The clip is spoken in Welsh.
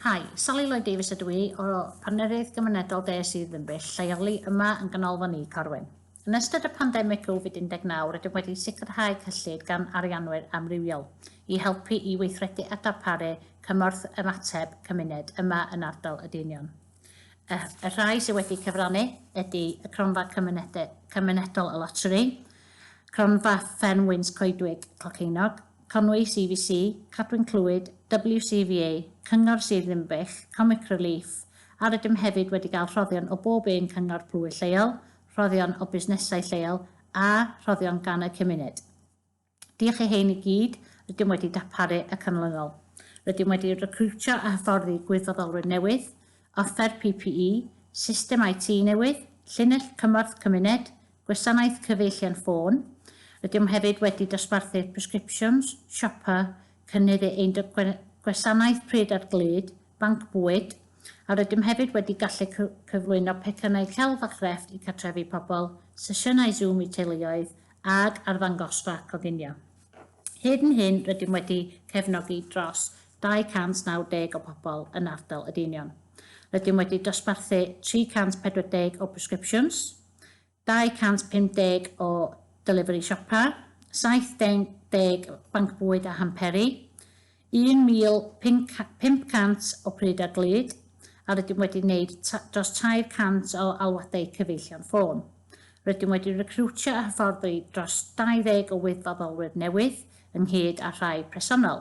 Hi, Sally Lloyd Davies ydw i, o Partneriaeth Gymunedol De sydd yn bell lleoli yma yn Ganolfan Y Corwyn. Yn ystod y pandemig Covid 19 rydym wedi sicrhau cyllid gan arianwyr amrywiol i helpu i weithredu a darparu cymorth ymateb cymuned yma yn ardal y Deinion. Y, y rhai sydd wedi cyfrannu ydy y Cronfa Cymunedol y Loteri, Cronfa Fferm Wynt Coedwig Clocheunog, Conwy, CVC, Cadwyn Clwyd, WCVA, Cyngor Sir Ddinbych, Comic Relief, a rydym hefyd wedi cael rhoddion o bob un cyngor plwyf lleol, rhoddion o busnesau lleol a rhoddion gan y cymuned. Diolch i hyn i gyd, rydym wedi darparu y canlynol. Rydym wedi recriwtio a hyfforddi gwirfoddolwyr newydd, offer PPE, system IT newydd, llinell cymorth cymuned, Gwasanaeth cyfeillion ffôn, Rydym hefyd wedi dosbarthu'r Prescriptions, Siopa, Cynnydd e ein gwasanaeth pryd ar glud, Banc Bwyd, a rydym hefyd wedi gallu cyflwyno pecynnau celf a chrefft i cartrefi pobl, sesiynau Zoom i teuluoedd, ag arddangosfa coginio. Hyd yn hyn, rydym wedi cefnogi dros 290 o bobl yn ardal y Deinion. Rydym wedi dosbarthu 340 o Prescriptions, 250 o Delivery Siopa, 70 Banc Bwyd a Hamperi, 1,500 o Pryd a Glyd a rydym wedi gwneud dros 300 o alwadau cyfeillion ffôn. Rydym wedi recriwtio a hyfforddi dros 20 o wirfoddolwyr newydd, ynghyd â rhai presennol.